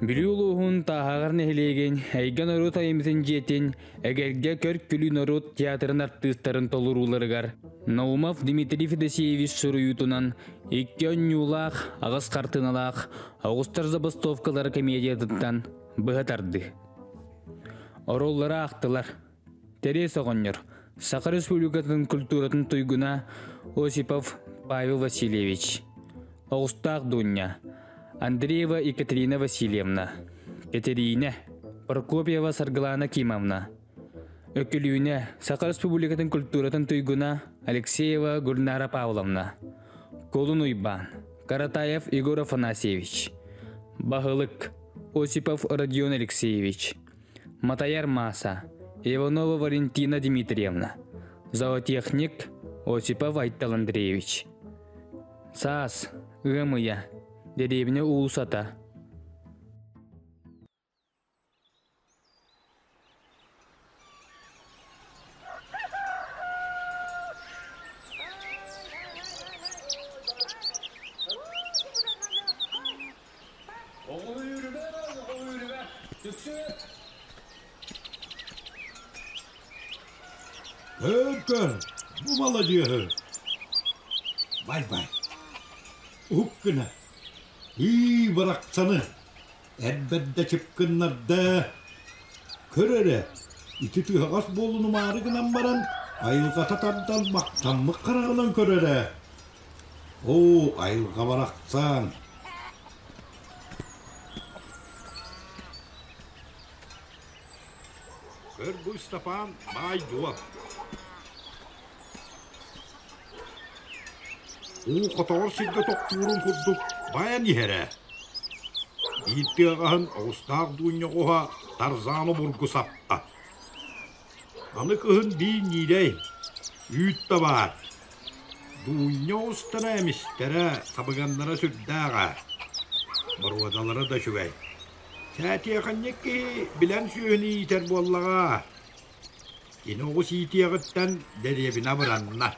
Бүлүү улууһун Тааһаҕар нэһилиэгин Эйгэ норуот айымньытын дьиэтин Эгэлгэ Көр-күлүү норуот театрын артыыстарын толорууларыгар Наумов Дмитрий Федосеевич суруйуутунан икки онньуулаах, аҕыс хартыыналаах оҕустар забастовкалары комедиятыттан быһа тарды. Ороллоро аахтылар. Тэрээс оҕонньор, Саха Республикатын культуратын туйгуна Осипов Павел Васильевич, оҕустаах Дуунньа, Андреева Екатерина Васильевна, Кэтэриинэ, Прокопьева Саргылана Кимовна, Өкүлүүнэ, Саха Республикатын культуратын туйгуна Алексеева Гульнара Павловна, Колун Уйбаан, Каратаев Егор Афанасьевич, Баһылык Осипов Родион Алексеевич, Матайар Мааса, Иванова Валентина Дмитриевна, зоотехник Осипов Айтал Андреевич. Саас, ыам ыйа, дэриэбинэ уулусата. Оҕуһүрүбэ, оҕуһүрүбэ. Түксү. Көр-көр, бу маладьыаһы. Бай-бай. Уһук гына. Ыы барахсаны. Эрбэрдэ чыпкыннарда. Көр эрэ, ити тыһаҕас буолунумаары гынан баран, айылҕата тардан махтаммыт хараҕынан көрөрө. Оо, айылҕа барахсан Көргү Ыстапаан баайдуо Уу хотоҕор сиргэ тохтуурун курдук байан иһэрэ Биир тыаҕаһын оҕустаах дуунньа уһа Тарзан обургу саппа Аны кыһын биир Ньиилэй, үүтэ баар, Дуунньа устара эмистэрэ, сабыганнара сүрдээҕэ, боруодалара да үчүгэй. Сэтиэхэньик киһи билэн сүөһүнү иитэр буоллаҕа, кини оҕус иитиэҕиттэн дэриэбинэ абыранна.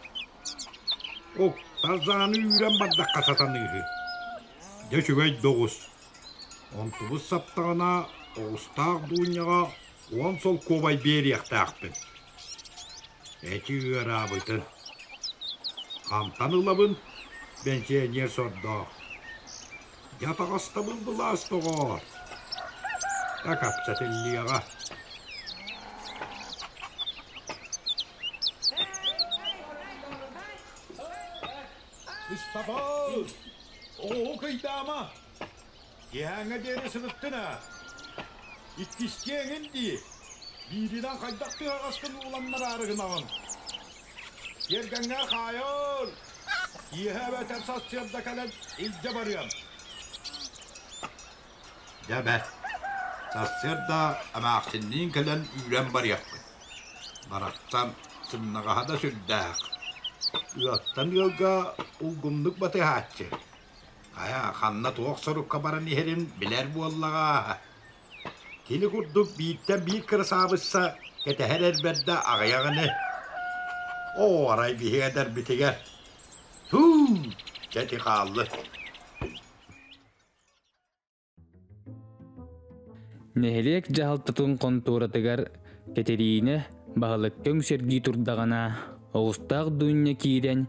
Уктазааны үүрэн бардахха сатаныыһы. Дьэ, үчүгэй да оҕус. Онтубут саптаҕына, оҕустаах Дуунньаҕа уон солкуобай биэриэхтээхпин. Эти ыараабытын. Хантан ылабын, бэнсиэньиэр сордоох. Дьэ атаҕастабын былаас доҕоор. Да капчат иллиэҕэ. Ыстапал! Оо, кыйдаама! Киэһээҥҥэ диэри сырыттын-а, иккистиэҥин дии, бииринэн хайдах тыаһаҕастан ууланнараары гынаҕын? Тиэргэҥҥэ хаайар, киэһэ эбэтэр сарсыарда кэлэн илдьэ барыам. Дьэ бэрт, сарсыарда эмээхсинниин кэлэн үүрэн барыахпыт. Барахсан сымнаҕаһа да сүрдээх. Ыалтан ыалга улгумнук батыһааччы. Хайа, ханна туох сорукка баран иһэрин билэр буоллаҕа. Кини курдук бииртэн биир кырасаабысса кэтэһэр эрбэрдэ аҕыйах ини. Оо, арай биһиги эдэрбитигэр һуу, дьэ ити хааллы Нэһилиэк дьаһалтатын хонтуоратыгар Кэтэриинэ баһылыкка үҥсэргии турдаҕына, оҕустаах Дуунньа киирэн,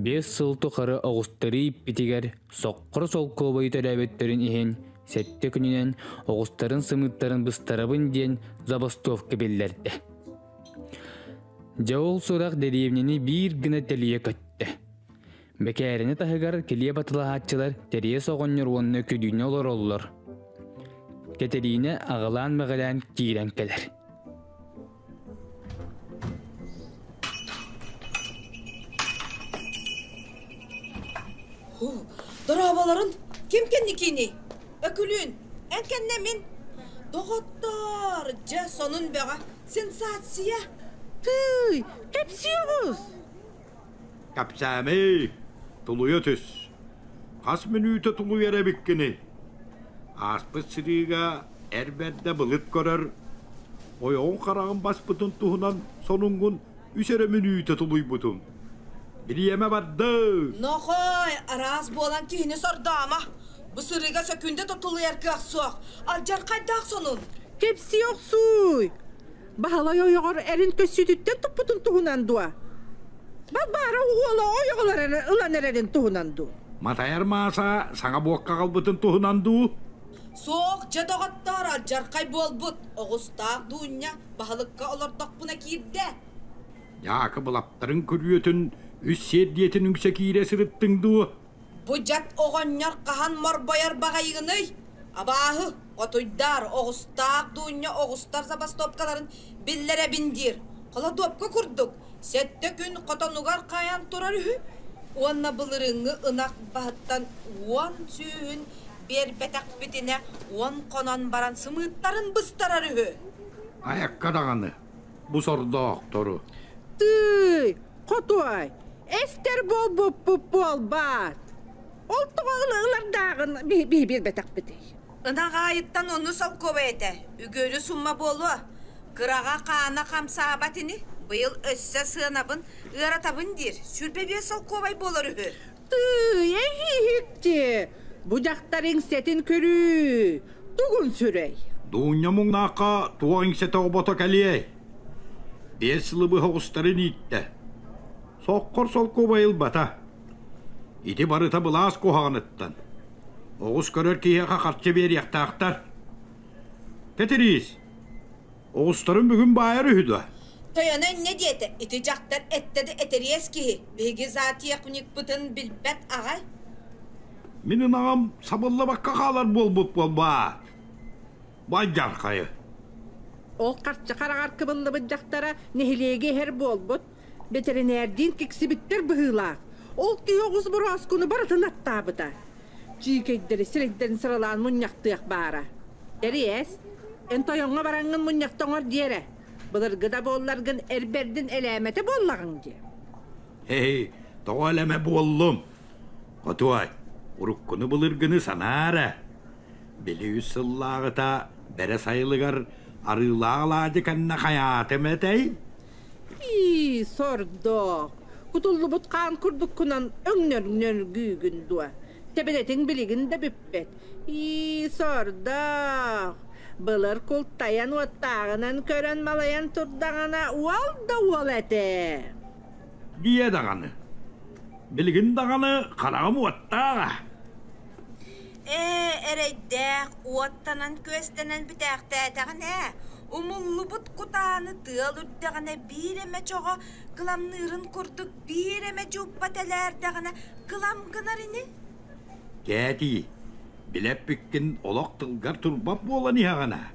биэс сыл тухары оҕустары ииппитигэр соқхор солкуобайы төлөөбөттөрүн иһин, сэттэ күнүнэн оҕустарын сымыыттарын быстарабын диэн забастовка биллэрдэ. Дьэ ол сурах дэриэбинэни биир гына тэлийэ көттө. Бэкээрэни таһыгар килиэ батылаһааччылар Тэриэс оҕонньор уонна Күдүүнэ олороллор. Кэтэриинэ аҕылаан мэҕилээн киирэн кэлэр. Дорооболорун ким кэнникиний? Өкүлүүн, эн кэннэ мин. Доҕоттоор, дьэ сонун бөҕө, сенсация. Тыый, кэпсиэҕиз! Кэпсээмий, тулуйа түс. Хас мүнүүтэ тулуйар эбиккиний? Ааспыт сырыыга эр бэрдэ былыт көрөр, ойоҕун-хараҕын баспытын туһунан сонунгун үс эрэ мүнүүтэ тулуйбутум. Бириэмэ бардыы! Нохой, араас буолан киһини сордомо. Бу сырыыга сөкүүндэ да тулуйар кыах суох. Алдьархайдаах сонун. Кэпсии охсууй! Баһылай ойоҕор эрин көссүүтүттэн туппутун туһунан дуо? Багбаара уола ойоҕолор ылан эрэрин туһунан дуу? Матайар Мааса саҥа буокка аҕалбытын туһунан дуу? Суох, дьэ доҕоттоор, алдьархай буолбут, оҕустаах Дуунньа баһылыкка олордохпуна киирдэ. Дьаакыбылаптарын күрүөтүн үс сиэрдийэтин үҥсэ киирэ сырыттыҥ дуу? Бу дьат оҕонньор хаһан морбойор баҕайыгыный? Абааһы, отуйдаар, оҕустаах дуунньа оҕустар забастовкаларын биллэрэбин диир. Холодуопка курдук, сэттэ күн хотонугар хаайан турар үһү уонна былырыыҥҥы ынах баһыттан уон сүүһүн биэрбэтэхпитинэ уон хонон баран сымыыттарын быстарар үһү. Айакка даҕаны, Бу сордоохтору. Тыый, хотуой, эстэр буолбуппут буолбаат? Ол тоҕо ылардааҕын билбэтэхпитий? Ынах аайыттан ону солкуобай этэ, үгүөрү сумма буолуо. Кыраҕа хаана хамсаабат ини, быйыл өссө сыанабын ыаратабын диир, сүүрбэ биэс солкуобай буолар үһү. Тыый, эһиһикчи, бу дьахтар иҥсэтин көрүү тугун сүрэй? Дуунньа муҥнаахха туох иҥсэтэ оҕобото кэлиэй? Биэс сылы быһа оҕустарын ииттэ. Соккор солкуобай ылбата. Ити барыта былаас куһаҕаныттан. Оҕус көрөр киһиэхэ харчы биэриэхтаахтар. Кэтириис, Оҕустарын бүгүн баайар үһү да? Тойоно иннэ диэтэ, ити дьахтар эттэ да этэриэс киһи, биһиги затиякникпытын билбэт аҕай. Мин ынаҕым сабыллабакка хаалар буолбут буолбаа. Байдьархайы. Ол харчы хараҕар кыбыллыбыт дьахтара нэһилиэги иһэр буолбут. Бэтэринээрдиин киксибиттэр быһыылаах, ол тиһэ оҕус борооскуну барытын аттаабыта. Чиикэйдэри сирэйдэрин сыралаан мунньахтыах баара. Тэрийээс, эн тойоҥҥо бараҥҥын мунньахтоҥор диэрэ, былыргы да буолларгын эрбэрдин элээмэтэ буоллаҕыҥ дии. Эй, тоҕо элэмэ буоллум? Хотуой, уруккуну былыргыны санаа эрэ. Били үс сыллааҕыта бэрэ сайылыгар арыылаах алаадьы кэннэ хайаатым этэй? Ии, сордоох, кутуллубут хаан курдуккунан өҥнөргүүгүн дуо? Тэбэнэтиҥ билигин да бүппэт. Ии, сордоох, былыр култайан уоттааҕынан көрөн малайан турдаҕына уол да уол этэ. Диэ даҕаны. Билигин даҕаны хараҕым уоттааҕа. Ээ, эрэйдээх, уоттанан-күөстэнэн бүтээхтээтэҕин ээ. Умуллубут кутааны тыал үрдэҕинэ биир эмэ чоҕо кыламныырын курдук биир эмэ дьууппа тэлээрдэҕинэ кылам гынар ини Дээдий, билэппиккин олох тылгар турбат буолан иһэҕин аа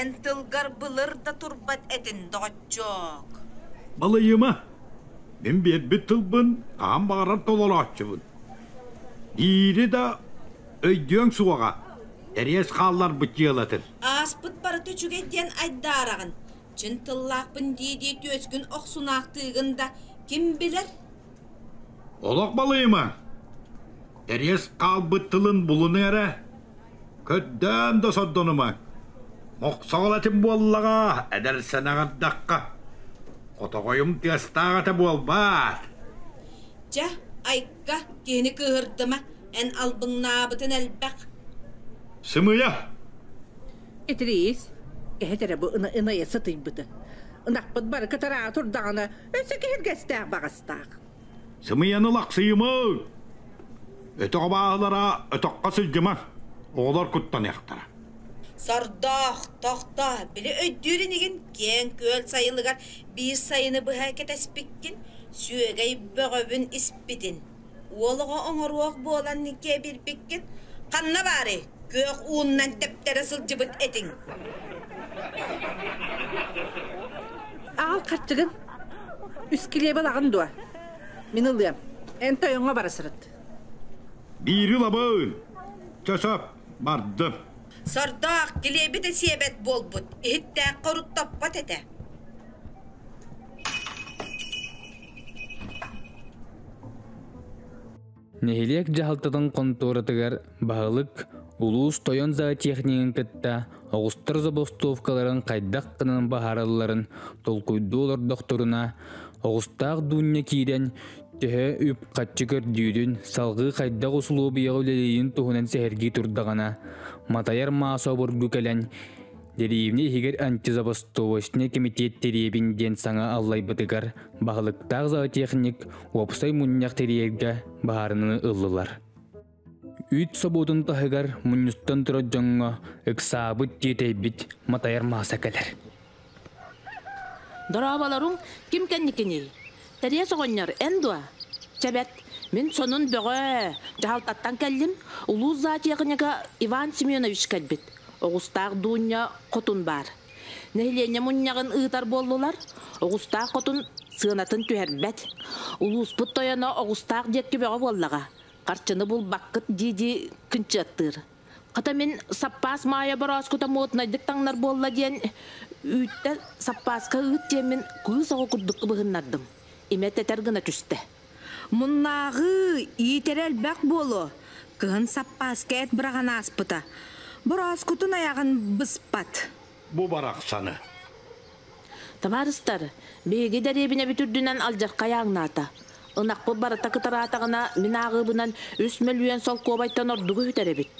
Эн тылгар былыр да турбат этин доҕоччоок Балайыма, мин биэрбит тылбын хаһан баҕарар толорооччубун Диири да өйдүөҥ суоҕа, тэриэс хаалларбыт дьыалатыр Ааспыт барыта үчүгэй диэн айдаараҕын, чин тыллаахпын дии-дии түөскүн охсунаахтыыгын да ким билэр? Олох балыйыма! Тэриэс хаалбыт тылын булунуҥ эрэ. Көрдөөн да сордонума. Мохсоҕолотим буоллаҕа, эдэр сэнэҕирдэххэ. Хотоҕойум тыастаах этэ буолбаат? Чэ, айка, киһини кыыһырдыма, Эн албыҥнаабытын элбэх. Сымыйа! Итириис, эһэт эрэ бу ынайа сытыйбытын. Ынахпыт бары кытараары турдаҕына, өссө киһиргэстээх баҕастаах. Сымыйаны лахсыйымыҥ! Өтөх абааһылара өтөххө сылдьымар, оҕолор куттаныахтара. Сордоох, тохтоо, били өйдүүр инигин, киэҥ-күөл сайылыгар биир сайыны быһа кэтэспиккин, сүөгэй бөҕөбүн испитин. Уол оҕо оҥоруох буолан кэбирбиккит, ханна баары күөх ууннан тэптэрэ сылдьыбыт этиҥ? Аҕал харчыгын, искилиэбэ ылаҕын дуо? Мин ылыам. Эн тойоҥҥо бара сырыт. Биири лабаын! Чөсөп, бардым. Сордоох, килиэбитэ сиэбэт буолбут, иһиттээххэ урут топпот этэ. Нэһилиэк дьаһалтатын хонтуоратыгар баһылык улуус тойон зоотехнигын кытта оҕустар забастовкаларын хайдах гынан баһаралларын толкуйдуу олордохторуна оҕустаах дуунньа киирэн төһө үп-харчы көрдүүрүн салгыы хайдах усулуобуйаҕа үлэлиирин туһунан сэһэргии турдаҕына матайар маас обургу кэлэн Деревня иһигэр антизабастовочный кэмитиэт тириэбин диэн саҥа аллайбытыгар баһылыктаах зоотехник уопсай мунньах тириэргэ баһаарынаны ыллылар. Үүт собуотун таһыгар мунньустан турар дьоҥҥо ыксаабыт тиэтэйбит матайар мааса кэлэр. Дорообаларым, ким кэнникиний? Тэриэс оҕонньор, эн дуо? Чэ бэт, мин сонун бөҕө-э, дьаһалтаттан кэллим, улуус зоотехнига Иван Семенович кэлбит, оҕустаах Дуунньа хотун баар. Нэһилиэнньэ мунньаҕын ыытар буоллулар, оҕустаах хотун сыанатын түһэрбэт. Улууспут тойоно оҕустаах диэк түбэҕэ буоллаҕа, харчыны булбаккыт дии-дии кынчыаттыыр. Хата мин саппаас Маайа борооскута моднайдык таҥнар буолла диэн үүттэ саппааска ыыт диэммин кыыс оҕо курдук кыбыһыннардым. Имэ тэтэр гына түстэ. «Муннааҕыы, иитэрэ элбэх буолуо», кыһын саппааска эт быраҕан ааспыта. «Бороскутун айаҕын быспат» бу барахсаны. Табаарыстар, биһиги дэриэбинэбит үрдүнэн алдьархай ааҥнаата. Ынахпыт барыта кытараатаҕына, мин ааҕыыбынан үс мөлүйүөн солкуобайтан ордугу үһүтэр эбит.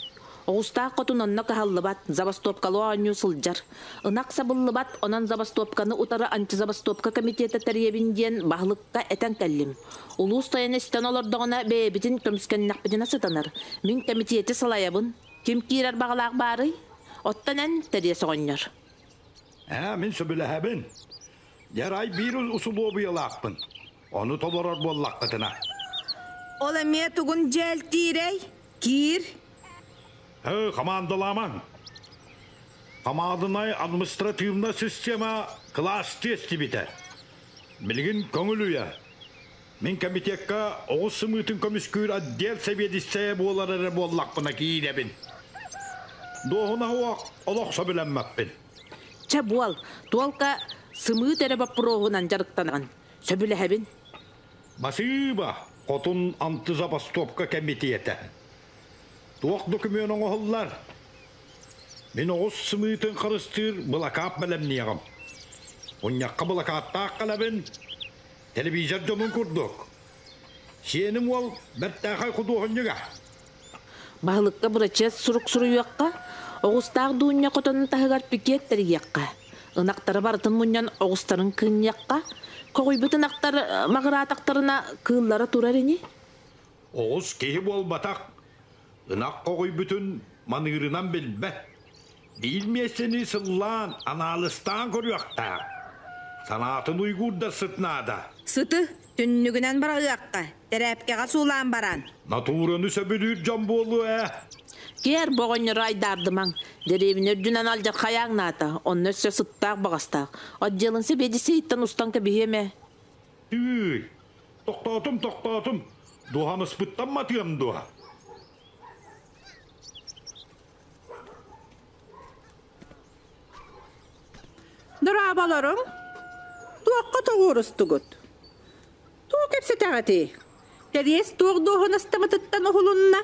Оҕустаах хотун онно кыһаллыбат, забастуопкалыы оонньуу сылдьар. Ынах сабыллыбат, онон забастуопканы утары антизабастуопка комитета тэрийэбин диэн баһылыкка этэн кэллим. Улуус тайана истэн олордоҕуна бэйэбитин көмүскэннэхпитинэ сытанар. Мин кэмитиэти салайабын. Ким киирэр баҕалаах баарый? Оттон эн тэриэс оҕонньор. Ээ, мин сөбүлэһэбин. Дьарай биир усулуобуйалаахпын. Ону толорор буоллаххытына. Ол эмиэ тугун дьээлтиирэй? Киир. Һы, хамаандалаамаҥ. Хамаанданай административная система кылаас тиэстибитэ. Билигин көҥүл үйэ. Мин кэмитиэккэ оҕус сымыытын көмүскүүр отдел сэбиэдиссэйэ буолар эрэ буоллахпына киирэбин. Дуоһунаһы олох сөбүлэммэппин. Чэ буол, туолка сымыыт эрэ боппуруоһунан дьарыктаныгын. Сөбүлэһэбин. Басыыба, хотун анты забастовка кэмитиэтэ. Туох докумүөн оҥоһуллар? Мин оҕус сымыытын харыстыыр былакаап бэлэмниэҕим. Мунньахха былакааттаах кэлэбин. Телевизор дьонун курдук. Сиэним уол бэртээхэй худуоһунньуга. Баһылыкка бырачыас сурук суруйуохха, оҕустаах дуунньа хотонун таһыгар пикет тэрийиэххэ, ынахтары барытын мунньан оҕустарын кыынньыахха, коҕуйбут ынахтар маҕыраатахтарына кыыллара турар ини. Оҕус киһи буолбатах, Ынах хоҕуйбутун маныырынан билбэт, биир миэстэни сыллаан, анаалыстаан көрүөхтээх. Санаатын уйгуурдарсыт наада. Сыты түннүгүнэн быраҕыахха, тэрээпкэҕэ суулаан баран. Натураны сөбүлүүр дьон буолуо ээ. Киэр, бу оҕонньору айдаардымаҥ. Дэриэбинэ үрдүнэн алдьар хайааҥ наата, онно өссө сыттаах-баҕастаах. Отделын сэбиэдиссэйиттэн устан кэбиһиэм ээ. Тыый, тохтоотум, тохтоотум. Дуоһамыспыттан матыам дуо? Дораабаларым, туохха тоҕуурустугут? Туох кэпсэтэҕитий? Кэриэс туох дуоһунастамытыттан уһулунна?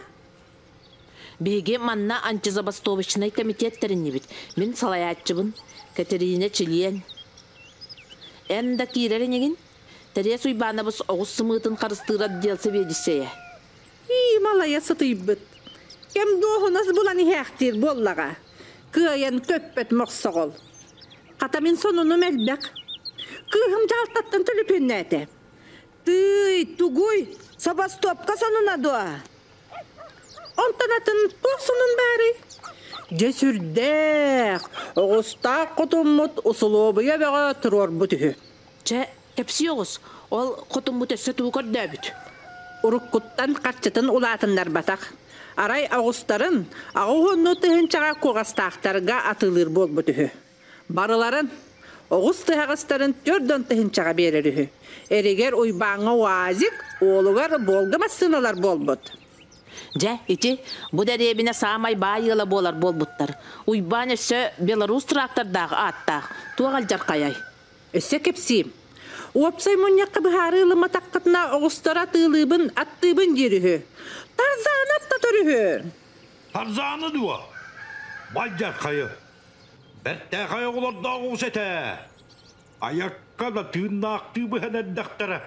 Биһиги манна антизабастовочнай кэмитиэт тэриннибит. Мин салайааччыбын Кэтэриинэ чилиэн. Эн да киирэр инигин? Тэриэс Уйбаанабыс оҕус сымыытын харыстыыр отдел сэбиэдиссэйэ. Ии, малайа сытыйбыт. Кэм дуоһунас булан иһээхтиир буоллаҕа. Кыайан көппөт мохсоҕол. Хата мин сонунум элбэх. Кыыһым дьаһалтаттан төлөпүөннээтэ. Тыый, тугуй, собостоопка сонуна дуо? Онтон атын туох сонун баарый? Дьэ сүрдээх, оҕустаах хотуммут усулуобуйа бөҕө туруорбут үһү. Чэ, кэпсиэ оҕус, ол хотуммут өссө тугу көрдөөбүт? Уруккуттан харчытын улаатыннарбатах, арай оҕустарын аҕыс уоннуу тыһыынчаҕа куоҕастаахтарга атыылыыр буолбут үһү. Барыларын, оҕус тыһаҕастарын түөрт он тыһыынчаҕа биэрэр үһү. Эригэр Уйбааҥҥа УАЗик, уолугар Волга массыыналар буолбут. Дьэ, ити, бу дэриэбинэ саамай баай ыала буолар буолбуттар. Уйбаан өссө белорус трактордаах ааттаах. Туох алдьархайай? Өссө кэпсиим. Уопсай мунньахха быһаарыы ылымматаххытына оҕустары атыылыыбын, аттыыбын диир үһү. Тарзанов татар үһү. Тарзаны дуо? Байдьархайы. Бэртээхэй оҕолордоох уус этэ. Айакка да тыыннаахтыы быһан эрдэхтэрэ.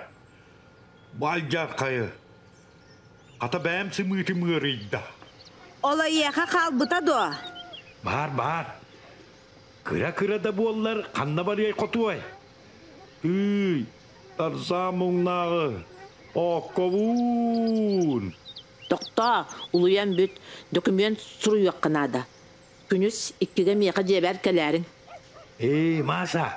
Бу алдьархайы. Хата бэйэм сымыытым ыарыйда. Ол эйиэхэ хаалбыта дуо? Баар, баар. Кыра-кыра да буоллар ханна барыай хотуой? Ыы, тарзаа муҥнааҕы ооккобуун. Тохтоо, улуйан бүт, документ суруйуохха наада. Күнүс, иккигэ миэхэ дьиэбэр кэлээриҥ. Ээ, Маша,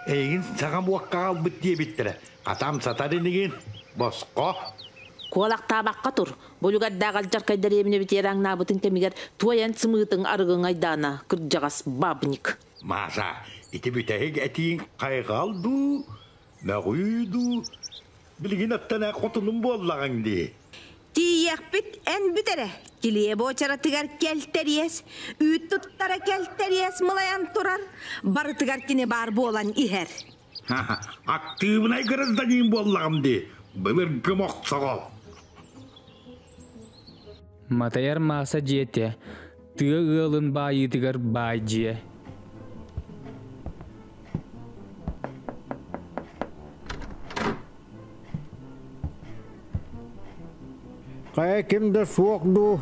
эйигин саҥа буоккаҕа ылбыт диэбиттэрэ. Хатам сатар инигин, босхо. Куолахтаабакка тур. Бу үлүгэрдээх алдьархай дэриэбинэ битиэрэ аҥнаабытын кэмигэр туой эн сымыытыҥ арыгыҥ айдаана, кырдьаҕас бабник. Маша, ити бүтэһик этииҥ хайҕал дуу? Мөҕүү дуу, билигин өттөнө хотунум буоллаҕыҥ дии. Тиийиэхпит эн бүт эрэ, килиэбэ уочаратыгар кэлтэриэс, үүт туттара кэлтэриэс мылайан турар, барытыгар кини баар буолан иһэр. Актыыбынай гражданин буоллаҕым дии, былыргым охсоҕол. Матайар Мааса дьиэтэ тыа ыалын баайыытыгар баайдьыйа Хайа ким да суох дуу,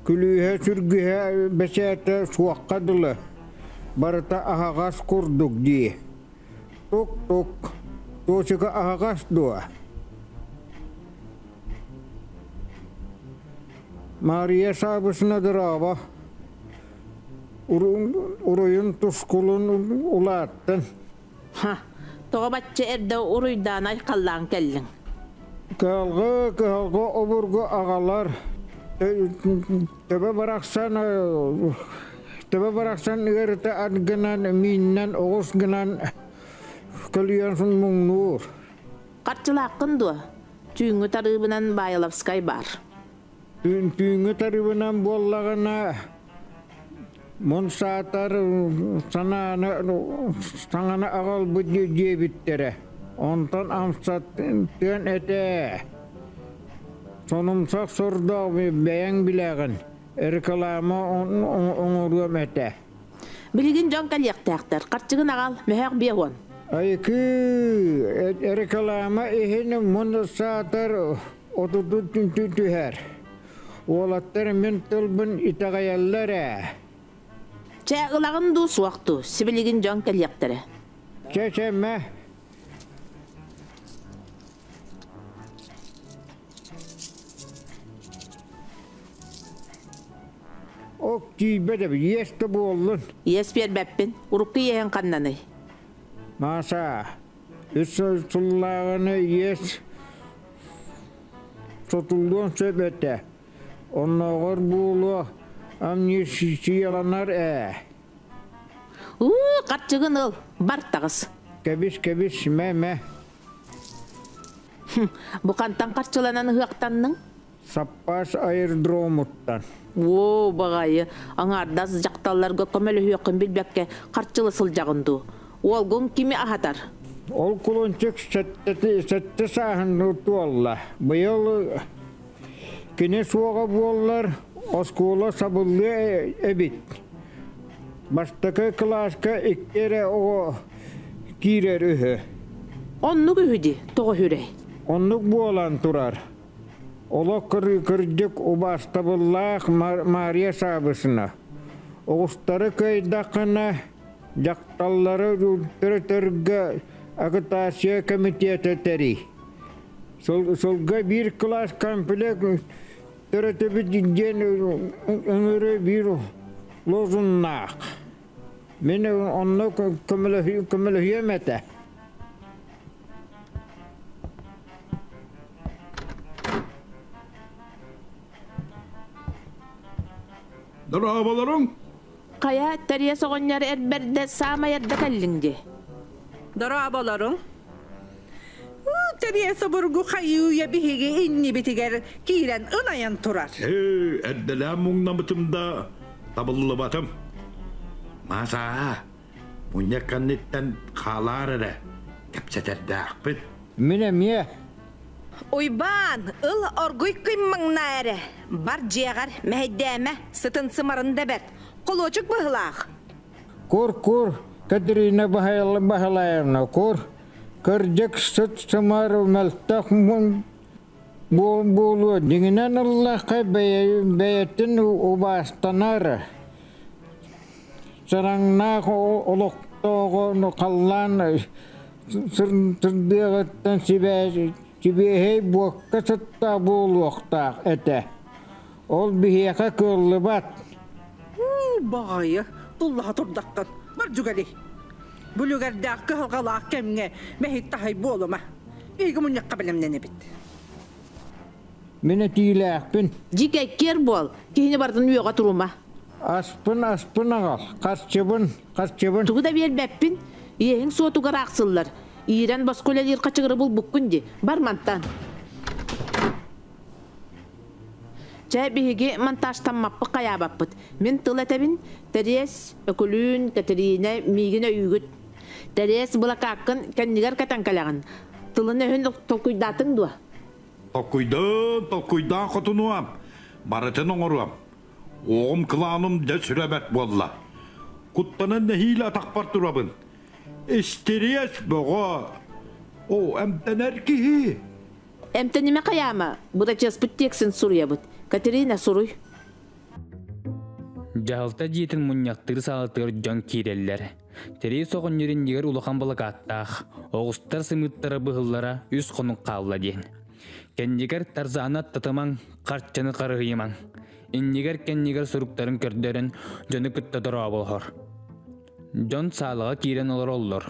күлүүһэ-сүргүһэ бэчээтэ суохха дылы, барыта аһаҕас курдук дии. Тук-тук, Туочука аһаҕас дуо? Мария Шабышна Грава уруйун тускулун улааттын. Ха, тоҕо бачча эрдэ уруйдаан айхаллаан кэллиҥ? Кыһалҕы, кыһалҕы обургу агалар төбө барахсан төбө барахсан ыарыта ат гынан, мииннэн, оҕус гынан көлүйэн муҥнуур. Харчылааххын дуо? Түүҥҥү тарыыбынан Баайылавскай баар. Түүҥҥү тарыыбынан буоллаҕына, мун саатар санааны саҥаны аҕалбыт диэбиттэрэ. Онтон амсаттыан этэ. Сонумсах сордоох бэйэҥ билэҕин, реклама оҥоруом этэ. Билигин дьон кэлиэхтээхтэр. Харчыгын аҕал, мөһөх биэ уон. Айкы, реклама иһин мунна саатар отурдун түнтү түһэр. Уолаттар мин тылбын итэҕэйэллэр ээ. Чэ, ылаҕын дуу, суох дуу, сибилигин дьон кэлиэхтэрэ. Чэ, чэммэ. Ок тиийбэт эбит, иэс да буоллун. Иэс биэрбэппин. Урукку иэһин ханнаный? Маша, үс сыллааҕыны иэс сотуллуон сөп этэ. Оннооҕор буолуо амнистияланар ээ. Уу, харчыгын ыл, бар таҕыс. Кэбис, кэбис, мэ-мэ. Бу хантан харчыланан ыһыахтанның? Саппаас аэрдромуттан. Оо, баҕайы, аҥаардас дьахталларга көмөлөһүөххүн билбэккэ харчыла сылдьаҕын дуу? Уолгуҥ кими аһатар? Ол кулунчук сэттэ сааһынныыр туолла. Быйыл кинэ суоҕа буоллар оскуола сабыллыа эбит. Бастакы кылааска икки эрэ оҕо киирэр үһү. Оннук үһү дии, тоҕо үһүрэй? Оннук буолан турар. Олох кырыыкырдьык убаастабыллаах Маарыйа Саабысына. Оҕустары кыайдаххына, дьахталлары төрөтөргө агитация комитета тэрий. Сылга биир кылаас комплект Төрөтөбүт диэн ыҥырыы биир лозуннаах. Мин онно көмөлөһүөм этэ. Дорооболоруҥ! Хайа, Тэриэс оҕонньор эр бэрдэ саамай эрдэ кэллиҥ дии. Дорооболоруҥ. Тэриэс обургу хайыы-үйэ биһиги иннибитигэр киирэн ынайан турар. Ээ, эрдэлээн муҥнамытым да табыллыбатым. Маша, мунньах кэнниттэн хаалаар эрэ кэпсэтэрдээхпин. Мин эмиэ Уйбаан, ыл оргуй күн маҥнаа эрэ, бар дьиэҕэр мэһэйдээмэ, сытын сымарын да бэрт, холуочук быһыылаах. Кур, кур, Катерина Баһылаевна, кур, кырдьык сыт-сымары мөлтөх буолуо, дьиҥинэн ыллахха, бэйэтин убаастанар Сараҥнаах олохтооҕо халлаан сырдыаҕыттан сибиэһэй буокка сыттаах буолуохтаах этэ. Ол биһиэхэ кыаллыбат. Баҕайы, туллаһа турдаххын, Мардьугали. Бүлүгэрдээх кыһалҕалаах кэмҥэ мэһик таһай буолума. Эйгэ мунньахха бэлэмнэнэбит. Мин этиилээхпин. Дьик эккиэр буол, киһини барытын үөҕэ турума. Аспын, аспын аҕал, харчыбын, харчыбын. Тугу да биэрбэппин, иэһиҥ суотугар аахсыллар, иирэн босхо үлэлиир хачыгыры булбуккун дии, бар мантан. Чэ, биһиги монтажтаммаппыт хайаабаппыт. Мин тыл этэбин, Тэриэс, Өкүлүүн, Кэтириинэ, миигин өйүүгүт. Тэриэс, былакааккын кэннигэр кэтэн кэлэҕин. Тылын-өһүн толкуйдаатыҥ дуо? Токуйдум, токуйдаан хотунуом, барытын оҥоруом. Уоҕум кылааным дьэ сүрэ бэрт буолла. Куттанан нэһиилэ атахпар турабын. Истириэс бөҕө. Оо, эмтэнэр киһи. Эмтэнимэ хайаама, бырачыаспыт тиэксин суруйабыт. Катерина, суруй. Дьаһалта дьиэтин мунньахтыыр саалатыгар дьон киирэллэр. Тэрии соҕонньор иннигэр улахан былакааттаах, оҕустар сымыыттара быһыллара үс хонук хаалла диэн. Кэннигэр Тарзана татымаҥ, харчыны харыһыйымаҥ. Иннигэр кэннигэр суруктарын көрдөрөн дьону кытта дорооболоһор. Дьон саалаҕа киирэн олороллор.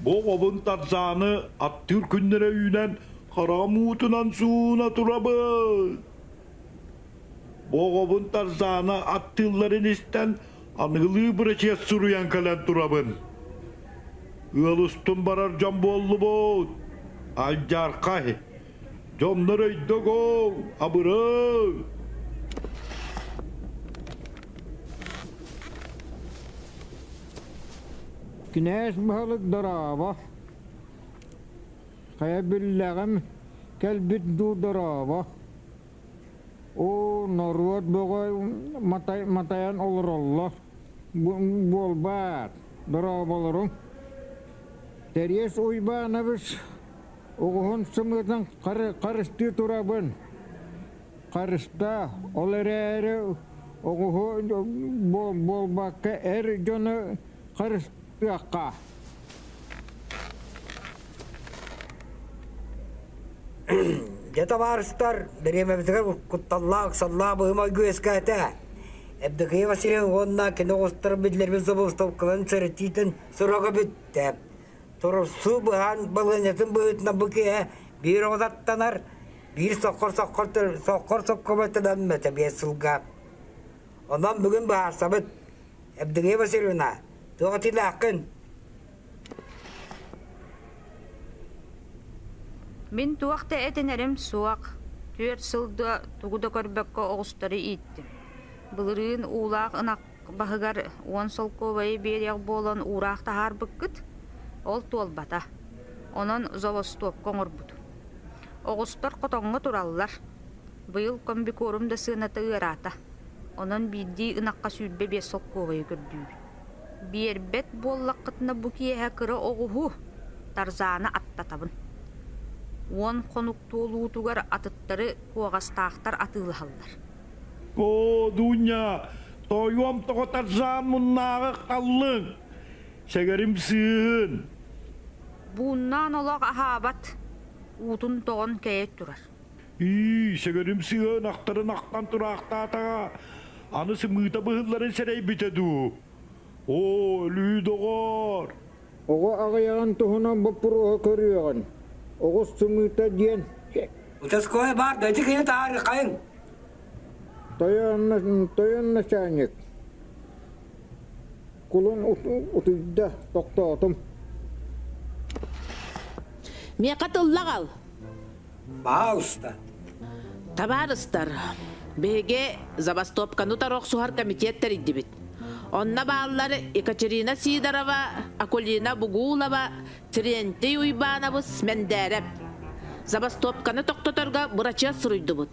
Бу оҕобун Тарзааны аттыыр күннэрэ үүнэн, хараам уутунан сууна турабыт. Бу оҕобун Тарзааны аттыылларын истэн, аныгылыы бырачыас суруйан кэлэн турабын. Ыал устун барар дьон буоллубут. Алдьархай, Дьоннор өйдөгөҥ, абырыҥ! Кинээс баһылык дорообо. Хайа биллэҕим кэлбит дуу дорообо. Оо, норуот бөҕө матай, матайан олороллор. Буолбаат, дорооболоруҥ. Териес Уйбаанабыс Оҕуһун сымыытын харыстыы турабын. Харыста, ол эрээри оҕуһу буолбакка эр дьону харыстыахха. Дьэ, табаарыстар, дэриэбэбитигэр кутталлаах ыксаллаах быһым ойгу үөскээтэ. Евдокия Васильевна уонна кини оҕустар биллэрбит забастовкаларын сэрэтиитин сорого бүттэ. Торорсуу быһаан балыанньатын быһыытынан бу киһи биир оҕотаттанар, биир соккор соккор соккор соккоботунаммыта биэс сылга. Онон бүгүн быһаарсабыт. Евдения Васильевна, туох этилээххин? Мин туох да этинэрим суох. Түөрт сыл да тугу да көрбөккө оҕустары ииттим. Былырыын уулаах ынах баһыгар уон солкуобайы биэриэх буолан уураах таһаарбыккыт, ол туолбата. Онон золостоопка оҥорбут. Оҕустар хотоҥҥо тураллар. Быйыл комбикорум да сыаната ыараата. Онон биирдии ынахха сүүрбэ биэс солкуобайы көрдүүбүн. Биэрбэт буоллаххытына бу киэһэ кыра оҕуһу, тарзааны аттатабын. Уон хонук туолуутугар атыттары куоҕастаахтар атыылаһаллар. Оо, Дуунньа, тоойуом тоҕо тарзаан муннааҕы халлыҥ? Сэгэрим сыыһын! Бууннаан олох аһаабат, уутун тоҕон кэйэн турар. Ии, сэгэрим сыыһын ахтарын ахтан тураахтаатаҕа, аны сымыыта быһылларын сэрэйбитэ дуу? Оо, өлүү доҕоор! Оҕо аҕыйаҕын туһунан боппуруоһу көрүөҕүн. Оҕус сымыыта диэн Участковай баар да ити киһи таарыххайын. Тойон, тойон начальник. Кулун утуйда, тохтоотум. Миэхэ тыллаҕал. Баалыста. Табаарыстар, биһиги забастовканы охсуһар комитет тэрийдибит. Онно бааллар Екатерина Сидорова, Акулина Бугулова, Терентий Уйбаанабыс Мэндээрэп. Забастовканы тохтоторго бырачыас суруйдубут.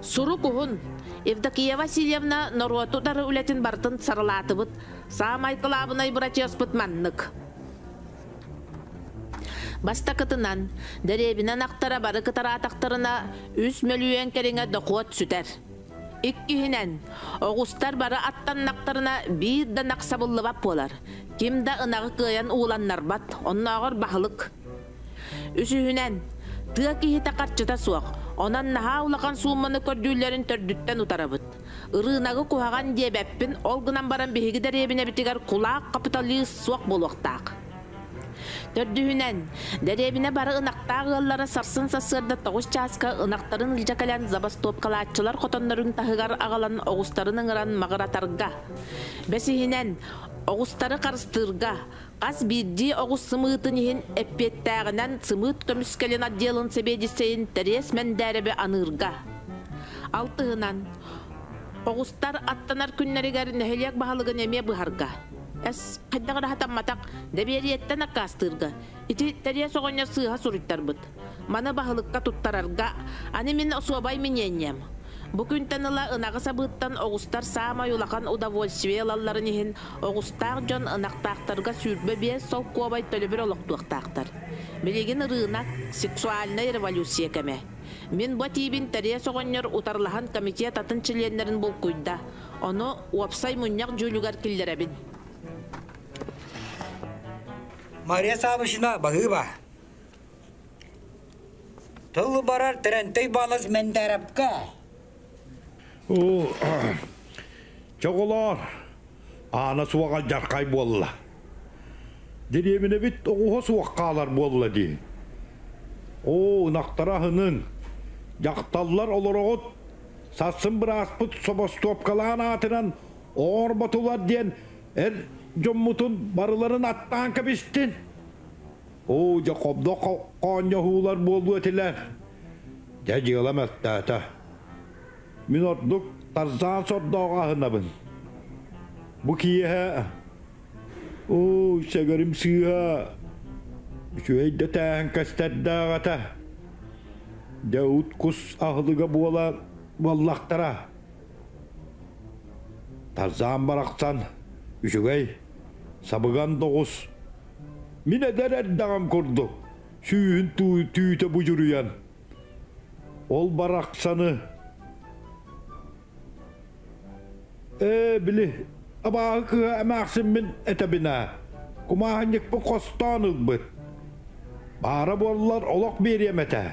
Сурук уһун. Евдокия Васильевна норуот утары үлэтин барытын сарылаатыбыт. Саамай кылаабынай бырачыаспыт маннык. Бастакытынан, дэриэбинэн ахтара бары кытараатахтарына, үс мөлүйүөн кэриҥэ дохуот сүтэр. Иккиһинэн, оҕустар бары аттаннахтарына биир да нахсабыллыбат буолар, ким да ынаҕы кыайан ууланнарбат, оннооҕор баһылык. Үсүһүнэн, тыа киһитэ харчыта суох, онон наһаа улахан суумманы көрдүүллэрин төрдүттэн утарабыт. Ырыынагы куһаҕан диэбэппин, ол гынан баран биһиги дэриэбинэбитигэр кулаак хапыталыыс суох буолуохтаах. Төрдүһүнэн, дэриэбинэ бары ынахтаах ыаллара сарсын сарсыарда тоҕус чааска ынахтарын илдьэ кэлэн забастовкалааччылар хотоннорун таһыгар аҕалан оҕустарын ыҥыран маҕыратарга. Бэсиһинэн, оҕустары харыстыырга, Хас биирдии оҕус сымыытын иһин эппиэттээҕинэн сымыыт көмүскэлин отделын сэбиэдиссэйин Тэриэс Мэндээрэби аныырга. Алтыһынан, оҕустар аттанар күннэригэр нэһилиэк баһылыгын эмиэ быһарга. Хайдах эрэ сатамматах, дэбиэрийэттэн аккаастыырга. Ити Тэриэс оҕонньор сыыһа суруйтарбыт. Маны баһылыкка туттарарга аны мин особай миниэнньэм. Бу күнтэн ыла ынаҕы сабыыттан оҕустар саамай улахан удовольствие ылалларын иһин оҕустаах дьон ынахтаахтарга сүүрбэ биэс солкуобай төлөбүр олохтуохтаахтар. Билигин ырыынак, сексуальнай революция кэмэ. Мин бу этиибин Тэриэс оҕонньор утарылаһан комитет атын чилиэннэрин булкуйда, ону уопсай мунньах дьүүлүгэр киллэрэбин. Мария Савушина, Баһыыба! Тылы барар Тэрэнтэй Иванович Мендээрэпкэ. Уу, чоҕулоор, аана суоҕа дьархай буолла. Дириэминэбит оҕуһа суох хаалар буолла дии. Оо, ынахтара аһынын. Дьахталлар олороҕут сарсын бырааспыт собостоопкалаан аатынан оорботулар диэн эр дьоммутун барыларын аттаан кэбистин. Оо, дьохобдох хоонньоһуулар буолуо этилэр. Дьэ, дьыала мөлтөөтө. Мин ордук Тарзаан сордооҕу аһынабын. Бу киэһэ Оо, сэгэрим сыыһа үчүгэй да тээһин көстөрдөөх этэ. Дьэ,ут кус аһылыга буола буоллахтара. Тарзаан барахсан үчүгэй, сабыган доҕус, Мин эдэр эрдэҕим курдук сүүһүн түүтэ будьуруйан ол барахсаны ээ били абааһы кыыһа эмээхсиммин этэбин ээ кумааһынньыкпын хостоон ылбыт баара буоллар олох биэриэм этэ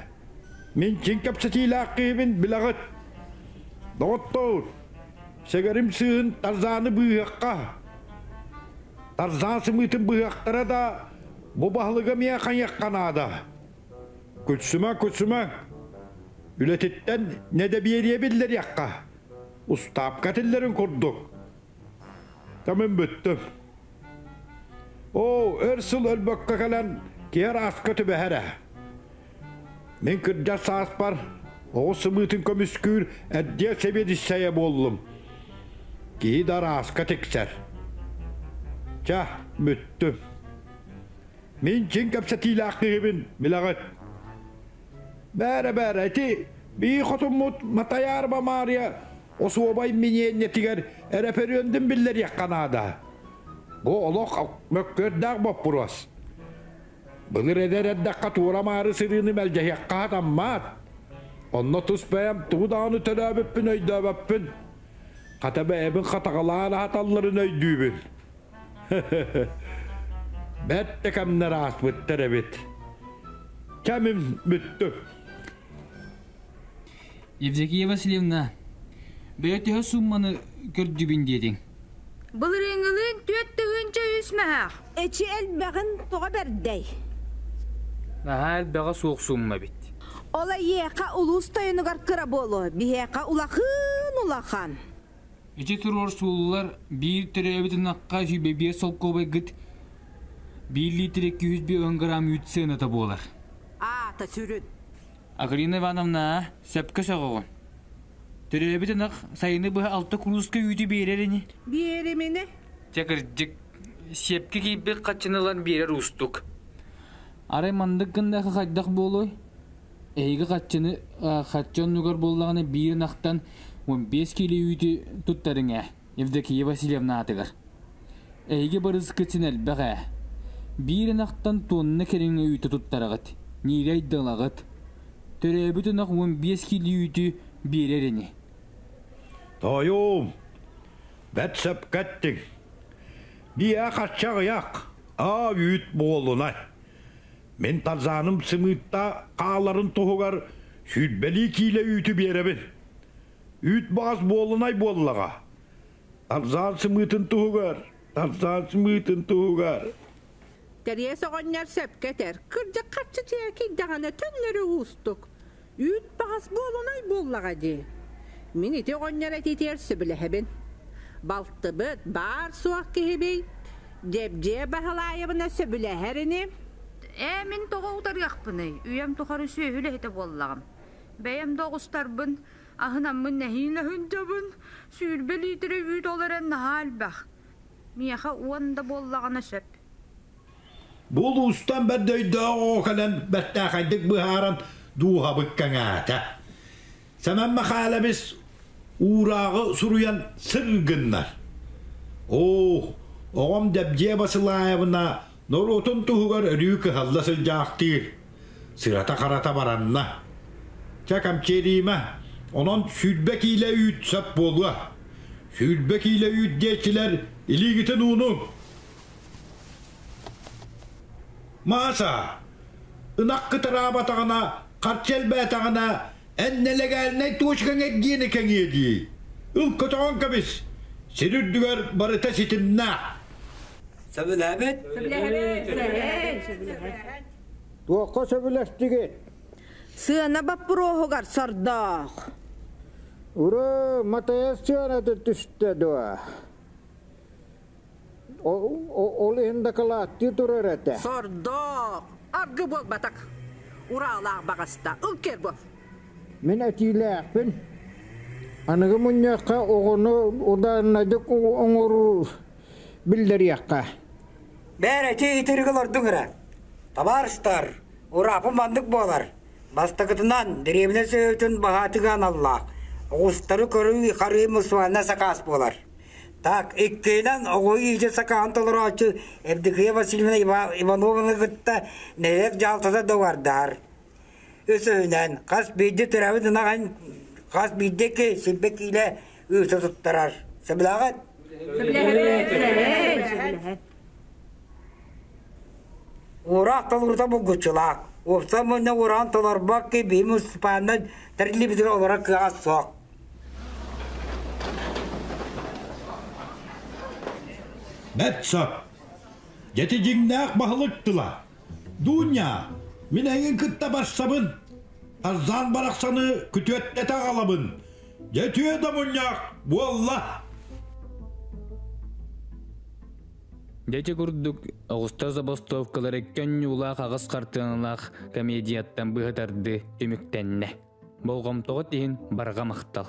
мин чиҥ кэпсэтиилээх киһибин билэҕит доҕоттоор сэгэрим сыыһын тарзааны быыһыахха Тарзан сымыытын быһыахтара да, бу баһылыга миэхэ хайыахха наада? Күлсүмэ, күлсүмэ. Үлэтиттэн не да биэриэ биллэриэххэ. Устаапка тиллэрин курдук. Тамын бүттүм. Оо, өр сыл өлбөккө кэлэн киһи арааска түбэһэрэ. Мин кырдьар сааспар оҕус сымыытын көмүскүүр эрдиэ сэбиэдиссэйэ буоллум. Киһи да арааска тиксэр. Чэ, бүттүм. Мин чин кэпсэтиилээх киһибин, билэҕит. Бээрэ-бээрэ, ити бии хотуммут Матайаар Бамаарыйа осуобай миниэнньэтигэр эрэпэриөндүн биллэриэххэ наада. Бу олох мөккүөрдээх боппуруос. Былыр эдэр эрдэххэ туора-маары сырыыны мэлдьэһиэххэ хатаммат. Онно тус бэйэм тугу даҕаны төлөөбүппүн өйдөөбөппүн. Хата бэйэбин хатаҕалаан аһаталларын өйдүүбүн. Бэрт да кэмнэр ааспыттар эбит. Кэмим бүттү. Евдокия Васильевна, бэйэ төһө сумманы көрдүбүн диэтиҥ? Былырыыҥҥылыын түөрт тыһыынча үс мөһөөх. Эчи элбэҕин тоҕо бэрдэй? Наһаа элбэҕэ суох сумма эбит. Ол эйиэхэ улуус тойонугар кыра буолуо, биһиэхэ улахан улахан. Ити туруор суоллар биир төрөөбүт ынахха сүүрбэ биэс солкуобайгыт биир лиитирэ күүс биэс грамм үүт сыаната буолар. Аата сүрүн. Агрина Ивановна, сөпкө сөҕөҕүн. Төрөөбүт ынах сайыны быһа алта курууска үүтү биэрэр ини. Биэрим ини. Чэ кырдьык, сиэпкэ киирбит хаччыны ылан биэрэр уустук. Арай маннык гыннахха хайдах буолуой? Эһиги хаччыны э, хаччы оннугар буоллаҕына биир ынахтан он биэс киилэ үүтү туттарыҥ ээ. Евдокия Васильевна аатыгар. Эһиги барыскытин элбэх ээ. Биир ынахтан туонна кэриҥэ үүтэ туттараҕыт, ниирэй да ылаҕыт. Төрөөбүт ынах уон биэс кило үүтү биэрэр ини. Тоойуум, бэрт сөпкө эттиҥ. Биэ хаччах ыйах, аа үүт буолунай. Мин Тарзаным сымыытта хааларын туһугар сүүрбэлии киилэ үүтү биэрэбин. Үүт баҕас буолунай буоллаҕа. Арзан сымыытын туһугар, арзан сымыытын туһугар. Тэриэс оҕонньор сөпкө этэр. Кырдьык харчы чээкийдэҕинэ төннөрө уустук. Үүт баҕас буолунай буоллаҕа дии. Мин ити оҕонньор этиитигэр сөбүлэһэбин. Балтыбыт, баар-суох киһибий? Дьэбдьиэ Баһылаайабына сөбүлэһэр ини? Ээ, мин тоҕо утарыахпыный? Үйэм тухары сүөһү үлэһитэ буоллаҕым. Бэйэм да оҕустарбын, аһынаммын нэһиин өһүндэбин, сүүрбэ лиитирэ үүт ол эрэн наһаа элбэх. Миэхэ уон да буоллаҕына сөп. Бу улуустан бэрт өйдөөх оҕо кэлэн бэртээхэйдик быһааран дууһабыт кэҥээтэ. Сэмэн Мэхээлэбис уурааҕы суруйан сыҥ гыннар, Оо, оҕом Дэбдьиэ Басылаайабына Норуотун туһугар өрүү кыһалла сылдьаахтыыр, сырата-харата баранна. Чэ, камчерима, онон сүүрбэ киилэ үүт сөп буолуо. Сүүрбэ киилэ үүт диэччилэр илиигитин уунуҥ. Мааса, ынах кытараабатаҕына, харчы элбээтэҕинэ, эн нелегальнай точкаҥ эргиэни кэҥиэ дии. Ыл көтөҕөн кэбис, сир үрдүгэр барыта ситимнээх. Сөбүлээбит? Туохха сөбүлэстигит? Сыана боппуруоһугар сордоох. Ура, матайас сыанаты түстэ дуо? Ол иһин дакылааттыы турар этэ. Сордоох. Аргы буолбатах. Ураалаах баҕаста. Ыл кергов. Мин этиилээхпин. Аныгы мунньахха оҕону удааннайдык оҥоруу Биллэриэххэ. Бээрэчи итирик олордуҥ ыра. Табаарыстар, ураапым маннык буолар. Бастакытынан, дэриэбинэ сөбөтүн баһаатыгаан аллаах. Оҕустары көрүү харыы мусуойна сакаас буолар. Так, иккиинэн, оҕо ииди сакаан толороочу Евдокия Васильевна Иванованы кытта нэһиэк дьаалтата доҕардар. Үсүһүнэн, хас биирдии төрөбүт ынах хас биирдиэки сирбэ киилэ ыыта туттарар. Сөбүлээҕит? Сөбүлэһэбит. Уораах толорута булгуччулаах. Уопса мунна уораан толорбок ки би муниципальна тәрилибитин олора кыаҕа суох. Бэтсоп, дети дьиҥнээх баһылык тыла. Дууньа, мин эҥин кытта барсабын. Тарзаан барахсаны күтүөттэтэ аҕалабын. Дьэ, түө да мунньах буолла! Дьэти курдук оҕустар забастовкалары көнньуулаах аҕыс хартыаналаах комедияттан быһытарды түмүктэннэ. Болҕомтоҕут иһин барҕа махтал.